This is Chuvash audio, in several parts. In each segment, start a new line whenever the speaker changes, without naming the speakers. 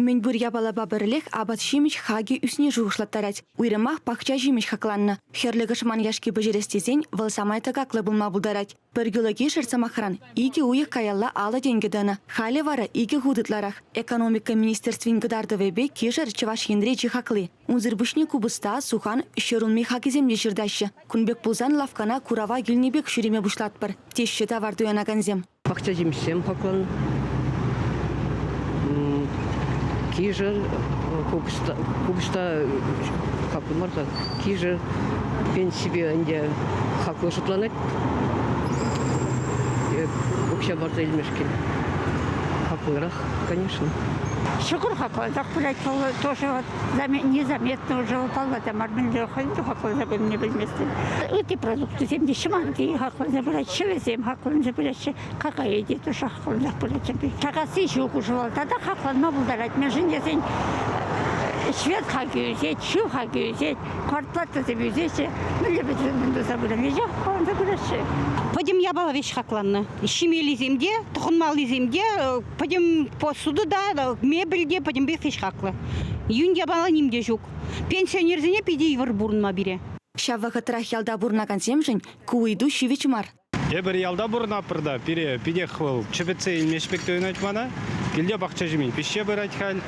Мӗнпур япалапа пӗрлех апат-ҫимӗҫ хакӗ ӳсни шухӑшлаттарать. Уйрӑмах пахча ҫимӗҫ хакланнӑ. Хӗрлӗ кӑшман яшки пӗҫерес тесен вӑл самай тӑкаклӑ пулма пултарать. Пӗр кило кишӗр, сӑмахран, икӗ уйӑх каялла алӑ тенкӗ тӑнӑ. Халӗ вара икӗ хут ытларах. Экономика министерствин кӑтартӑвӗпе кишӗр Чӑваш Енре чи хакли. Унсӑр пуҫне купӑста, сухан, ҫӗр улми хакӗсем те ҫыртаҫҫӗ. Кун пек пулсан лавккана курава килнӗ пек ҫӳреме пуҫлатпӑр, теҫҫӗ тавар туянакансем. пахчаҫимҫем
хаклӑн, кишӗр, купӑста хаклӑ мар-ха, кишӗр пенсипе ӗнтӗ хаклӑ шутланать. Е укҫа парса илмешкӗн. Хаклӑрах, конечно. Шүкür
хаклӑрах пулать, тоже вот незаметно уже упала та мар мӗнле хӑйӗн те хакланса пынине пӗлместӗн ытти продуктусем те ҫӑманти хакланса пыраҫҫӗ вӗсем хакланса пыраҫҫӗ какая те туша хаклансах пыраҫҫӗ чакасси ҫук уҫӑлата та хакланма пултарать мӗншӗн тесен швед хакӗ ӳсет ҫу хакӗ ӳсет картлатӑсем ӳсеҫҫӗ мӗнле пӗтӗмлетмен туса пыраҫҫӗ хакланса пыраҫҫӗ пӗтӗм
япала веҫ хакланнӑ ҫимеллисем те тӑхӑнмаллисем те Пӗтӗм посуду та, мебель те пӗтӗмпех ӗҫ хаклӑ. Юн япала ним те ҫук. Пенсионерсене питӗ йывӑр пурӑнма пире. Ҫав вӑхӑтрах
ялта пурӑнакансемшӗн ку ыйту ҫивӗч мар. Эпир ялта
пурӑнатпӑр та, пире питех вӑл чӗпӗтсе илмеҫ пек туйӑнать мана. Килте пахча ҫимӗн пиҫсе пырать халь.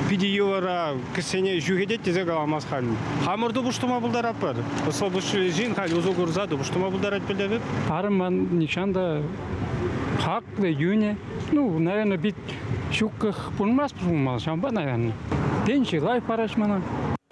Питӗ йывӑра кӗсене ҫӳхетет тесе каламас халь. Хамӑр тупӑш тума пултаратпӑр. Ӑслӑ пуҫлӑ ҫын халь усӑ курса тупӑш тума пултарать пӗлтӗр. Арӑмӑн нихҫан
та хаклӑ юнӗ, ну, наверное, пит ҫуккӑх пулмасть пулмалла, ҫавӑнпа, наверное. Тенчи лайӑх параҫ мана.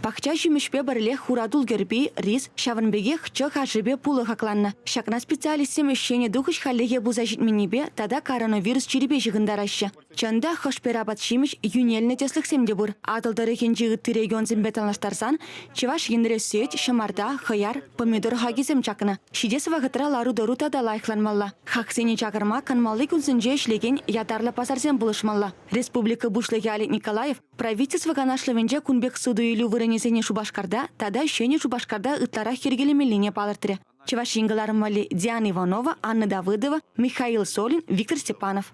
Пахча ҫимӗҫпе
пӗрлех хуратул кӗрпи, рис, ҫавӑн пекех чӑх ашӗпе пулӑ хакланнӑ. Ҫакна специалистсем ӗҫченӗ тухӑҫ хальлӗхе пулса ҫитменнипе тата коронавирус чирӗпе ҫыхӑнтараҫҫӗ. Чӑн та, хӑшпер апат-ҫимӗҫ, йӳнелнӗ тӗслӗхсем те пур. Атӑл тӑрӑхӗнчи ытти регионсемпе танлаштарсан Чӑваш Енре сӳт, ҫӑмарта, хӑяр, помидор хакӗсем чакнӑ. Ҫитес вӑхӑтра лару-тӑру тата лайӑхланмалла. Хаксене чакарма канмалли кунсенче ӗҫлекен ятарлӑ пасарсем пулӑшмалла. Республика Пуҫлӑхӗ Олег Николаев Правительство канашлӑвӗнче кун пек суту-илӳ вырӑнӗсене Шупашкарта тата Ҫӗнӗ Шупашкарта ытларах йӗркелемеллине палӑртрӗ. Чӑваш Ен кӑларӑм валли Диана Иванова, Анна Давыдова, Михаил Солин, Виктор Степанов.